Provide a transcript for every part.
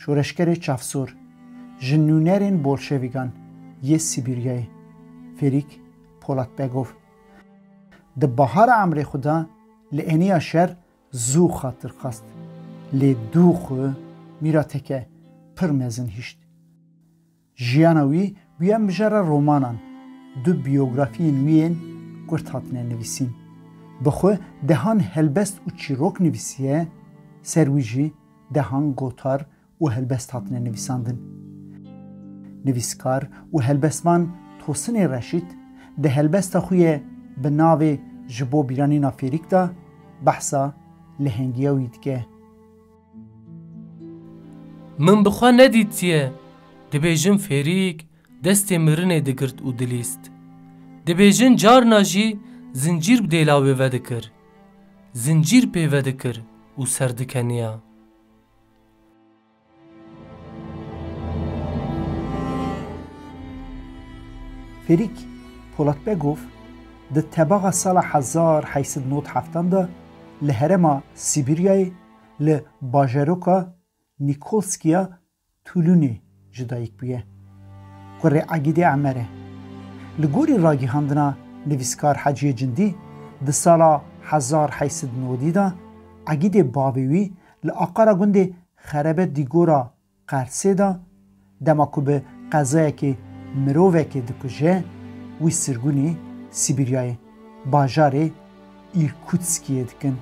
Şoreşgerê çavsor ji nûnerên bolşevîgan yê Sîbîryayê Ferîk Polatbegov di bahara emrê xwe de li eniya şer zû xatir xwest lê dû xwe mîrateke pir mezin hişt. Jiyana wî bûye mijara romanan. Du biyografiyên wî yên kurt hatine nivîsîn. Bi xwe dehan helbest û çîrok nivîsiye, ser wî jî dehan gotar û helbest hatine nivîsandin. Nivîskar û helbestvan Tosinê Reşît di helbesta xwe yê bi navê Ji bo bîranîna fêrîk de behsa lehengîya wî dike. Min bi xwe nedîtiye, dibêjin fêrîk destê mirinê digirt û dilîst. Dibêjin carna jî zincîr bi dêla wê vedikir. Zincîr pê vedikir û serdikeniya. Fêrîk Polatbegov di tebaxa sala hezar heysed nod heftan de li herêma Sîbîryayê Li bajaroka Nîkolskiya Tulûnê ji dayik bûye. Kurê Egîdê Emer e. Li gorî ragihandina nivîskar Heciyê Cindî, di sala hezar heşt sed û newdî de Egîdê bavê wî li aqara gundê Xerebet Dîgora Qersê de dema ku bi qezayekê mirovekê dikuje wî sirgûnê Sîbîryayê bajarê Îrkûtskiyê dikin.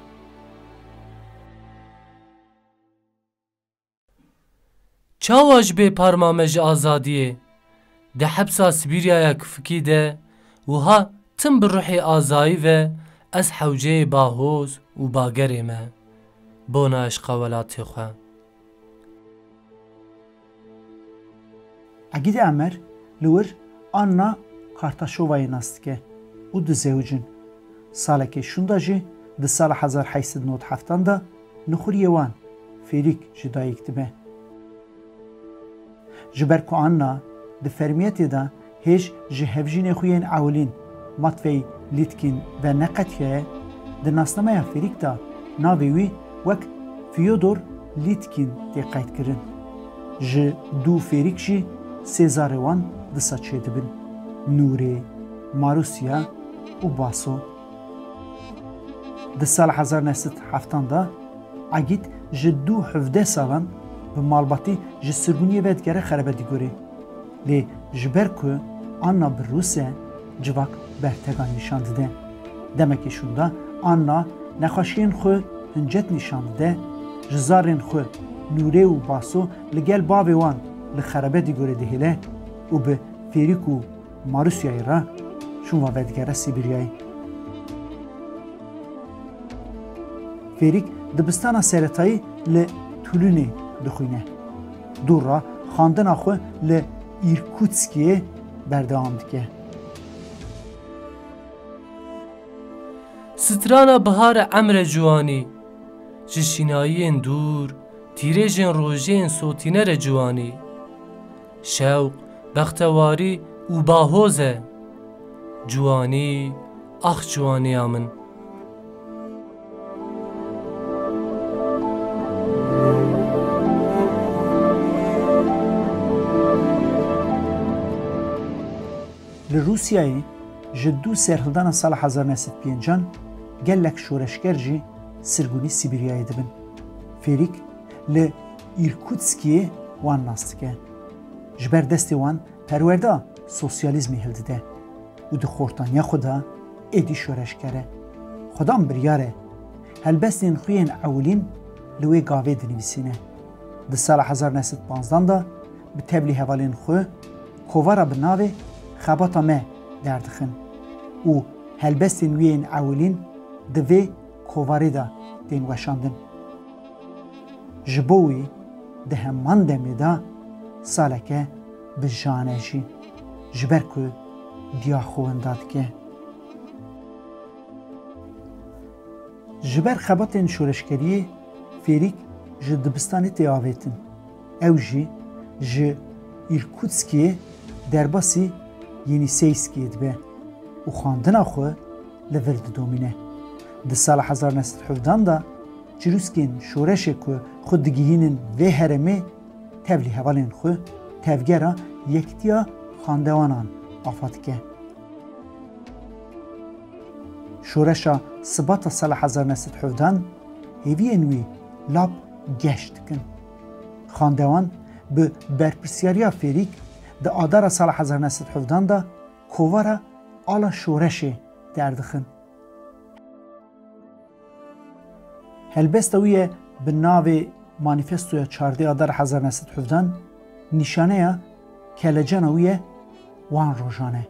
Çawa ji bê parma me ji azadiyê? Di hepsa Sîbîryaya Kufkî de wiha tim bi ruhê azayî ve ez hewceyê Bahoz û Bagerê me bona eşqa welatê xwe. Egîdî Emer li wir Anna Kartaşovayê nas dike û dizewicin. Salekê şûnda jî di sala hezar heşt sed nod heftan de Nuxuriyê wan, Fêrîk, ji dayîk dibe. Ji ber ku Anna di fermiyetê de hêj ji hevjînê xwe yên Ewlîn, Matvey Lîtkîn, ve neqetiyaye, di nasnameya fêrîk de navê wî wek Fyodor Lîtkîn tê qeydkirin. Ji du fêrîk jî sê zarê wan disa çêdibin, Nûrê, Marûsya û Baso. Di sala hezar neh sed heftan de Egîd ji du hevdeh salan bi malbatî ji sirgûniyê ve digere Xerebedîgorê. Lê ji ber ku Anna bi Rûs e, civak bertegan nîşan dide. Demekî şûnde Anna nexweşiyên xwe hincet nîşan dide, ji zarên xwe Nûrê û Baso li gel bavê wan li Xerebedîgorê dihêle û bi fêrîk û Marusyayê re çûn va vedigere Sîbiryayê. Fêrîk dibistana seretayî li Tulûnê dixwîne. Dûra xwendina xwe li Îrkûtskiyê berdewam dike. Strana bihar e Emre Ciwanî Ji şînayiyên dûr, tîrêjên rojiyên sotîne re ciwanî. Şewq, bextewarî û bahoz e. Ciwanî, ax ciwaniya min. Li Rûsyayê ji dû serhildana sala hezar neh sed pêncan gelek şoreşger jî sirgûnî Sîbîryayê dibin. Fêrîk li. Îrkutskiyê wan nas dike. Ji ber destê wan perwerda sosyalîzmê hildide û di xortaniya xwe de êdî şoreşger e. Xwedan biryar e helbestên xwe yên ewilîn li wê gavê dinivîsîne. Di sala hezar neh sed panzdan de bi tevlî hevalên xwe kovara bi navê Xebata me derdixin û helbestên wî yên ewilîn di vê kovarî de tên weşandin. Ji bo wî di heman demê de saleke bi jan e jî ji ber ku diya xwe winda dike. Ji ber xebatên şoreşkeriyê fêrîk ji dibistanê tê avêtin. Ew jî ji Îrkûtskê derbasî Yenîseyskiyê dibe û xwendina xwe li vir didomîne. Di sala hezar neh sed hevdan de çirûskên şoreşê ku xwe digihînin vê herêmê tevlî hevalên xwe Tevgera Yektiya Xandewanan afa dike. Şoreşa Sibata sala hezar neh sed hevdan hêviyên wî lap geş dikin. Xandewan bi berpirsyariya Fêrîk di adara sala hezar û neh sed û hevdan de kovara Ala Şoreşê derdixin. Helbesta wî ye bi navê Manîfestoya Çardê Adara hezar û neh sed û hevdan nîşaneya kelecana wî ye wan rojan e.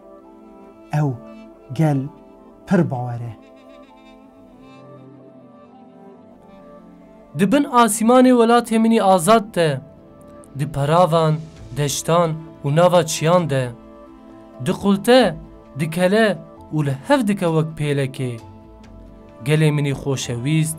Ew gel pir bawer e. Di bin asîmanê welatê min î azad de, di peravan, deştan û nava çiyan de, diqulte, dikele û li hev dike wek pêlekê. Gelê min î xoşewîst,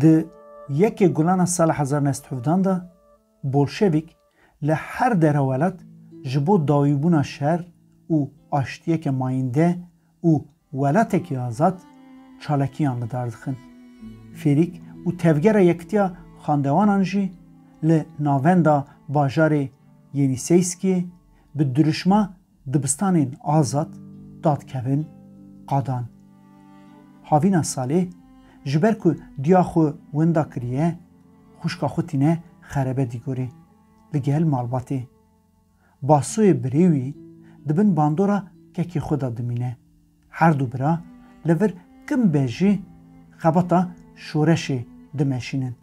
Di yekê gulana sala hezar û neh sed û hevdeh de bolşevîk li her dere welat ji bo dawîbûna şer û aştiyeke mayîndeh û welatekî azad çalakiyan li dar dixin. Fêrîk û tevgera Yekitiya Xandewanan jî li navenda bajarê Yênîseyskiyê bi dirûşma Dibistanên azad dadkevin qadan. Havîna salê ji ber ku diya xwe wenda kiriye, xwişka xwe tîne xerebe dîgorê li gel malbatê. Basoyê birê wî di bin bandora kekê xwe de dimîne. Her du bira li vir kin be jî xebata şoreşê dimeşînin.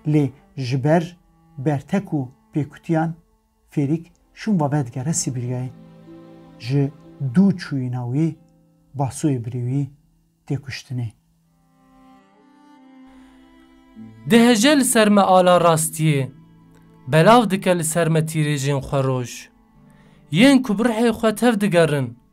Lê ji ber bertek û pêkutiyan, Fêrîk şûn ve vedigere Sîbîryayê. Ji dû çûyîna wî Basoyê birê wî tê kuştinê. Dihije li ser me ala rastiyê, belav dike li ser me tîrêjên xweroj. Yên ku bi ruhê xwe tev digerin,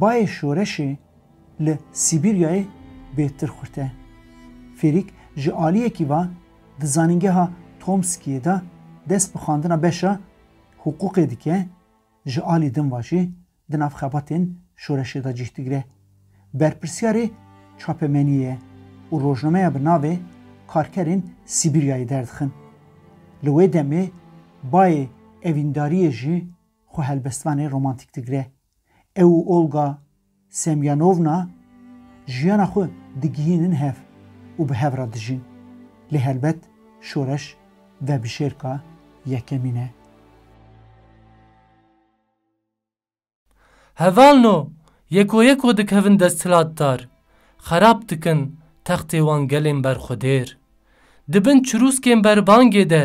Bayê şoreşê li Sîbîryayê bê tirxurte. Fêrîk ji aliyekî va di zanîngeha Tomskiyê de dest bi xwendina beşa hiqûqê dike, ji alî din va jî di nav xebatên şoreşê de cîh digire. Berpirsyarê çapemeniyê ye û rojnameya bi navê Karkerên Sîbîryayê derdixin. Li wê demê bayê evîndariyê jî xwe helbestvanê romantîk digire. Ew û Olga Semyonovna jiyana xwe digihînin hev û bi hev re dijîn. Lê helbet şoreş vebişêrka yekemîn e. Heval no, yeko yeko dikevin desthilatdar, xerab dikin textê wan gelên berxwedêr. Di bin çirûskên berbangê de.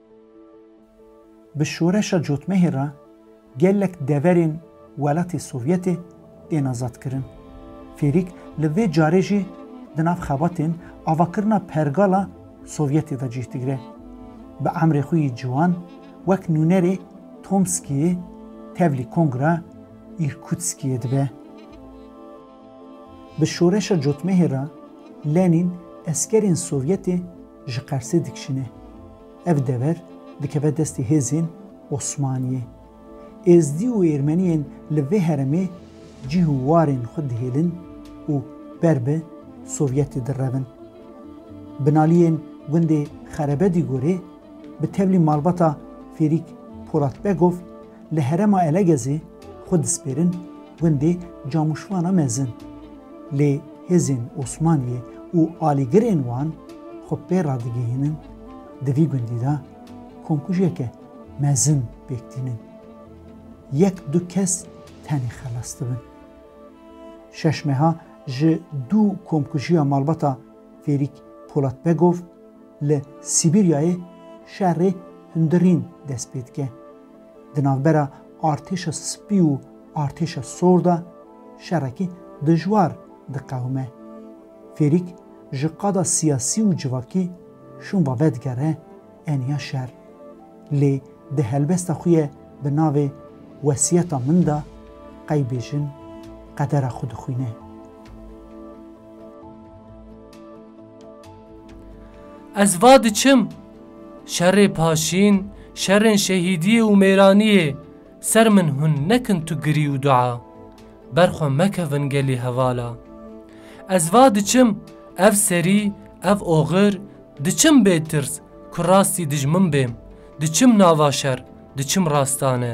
Bi şoreşa cotmehê re gelek deverên welatê Sovyetê tên azadkirin. Fêrîk li vê carê jî di nav xebatên avakirina pergala Sovyetê de cih digire. Bi emrê xwe yê ciwan wek nûnerê Tomskiyê tevlî Kongra Îrkutskiyê dibe. Bi şoreşa cotmehê re Lenîn eskerên Sovyetê Ji Qersê dikişîne. Ev dever dikeve destê hêzên Osmaniyê. Êzdî û Êrmeniyên li vê heremê cîh û warên xwe dihêlin û ber bi Sovyetê direvin. Binaliyên gundê Xerebedîgorê bi tevlî malbata Fêrîk Polatbegov Li herêma Elegezê xwe dispêrin gundê Camûşvana Mezin. Lê hêzên Osmaniyê û alîgirên wan xwe pê radigihînin di vî gundî de komkujeke mezin pêk tînin. Yek du kes tenê xelas dibin. Şeş meha ji dû komkujiya malbata Fêrîk Polatbegov li Sîbîryayê şerê hundirîn dest pê dike. Di navbera Artêşa Spî û Artêşa Sor de şerekî dijwar diqewime. Fêrîk ji qada siyasî û civakî şûnva vedigere eniya şer. Lê di helbesta xwe ye bi navê Wesiyeta min de qey bêjin qedera xwe dixwîne. Ez va diçim, şerê paşîn, şerên şehîdiyê û mêraniyê ser min hûn nekin tu girî û dua, ber xwe mekevin gelî hevala. Ez va diçim, ev serî, ev oxir, diçim bê tirs ku rastî dijmin bêm, diçim nava şer, diçim rastane.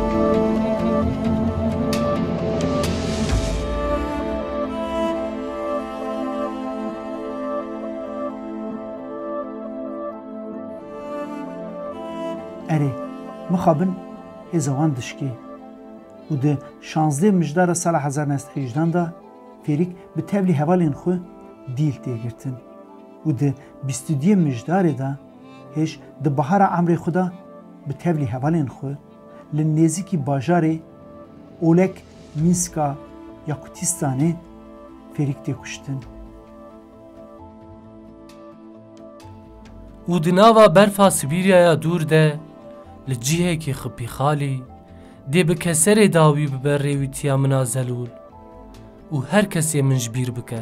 Erê, mixabin hêza wan dişikê û di şazdeh mijdara sala hezar neh sed hejdan de fêrîk bi tevlî hevalên xwe dîl tê girtin û di bîst û duyem mijdarê de hêj di bahara emrê xwe de bi tevlî hevalên xwe Li nêzîkî bajarê Olek Mînska ya Kutistanê fêrîk tê kuştin. Û di nava berfa Sibîryaya dûr de li cihekî xipîxalî dê bi keserê dawî bibe rêwîtiya min a zelûl û her kesê min ji bîr bike.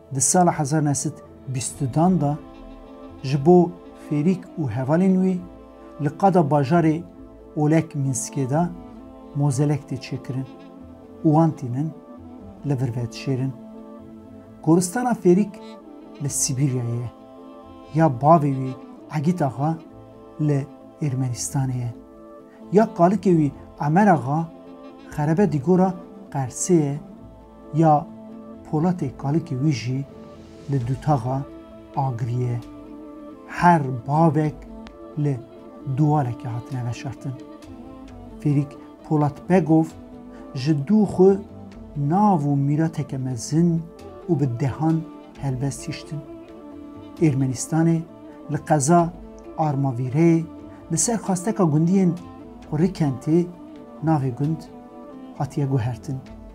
Di sala hezar neh sed bîst u dan de ji bo fêrîk û hevalên wî li qada bajarê Olek Minskê de mozelek tê çêkirin û wan tînin li vir vedişêrin. Goristana fêrîk li Sîbîryayê ye. Ya bavê wî Egît Axa li Ermenistanê ye. Ya kalikê wî Emer Axa xerebe dîgora Qersê ye. Ya Polatê kalikê wî jî li dutaxa agirî ye. Her bavek li duwalekê hatine veşartin. Fêrîk Polat Begov ji dû xwe nav û mîrateke mezin û bi dehan helbest hiştin. Ermenistanê li qeza Armavîreyê li ser xasteka gundiyên Qurikentê navê gund hatiye guhertin.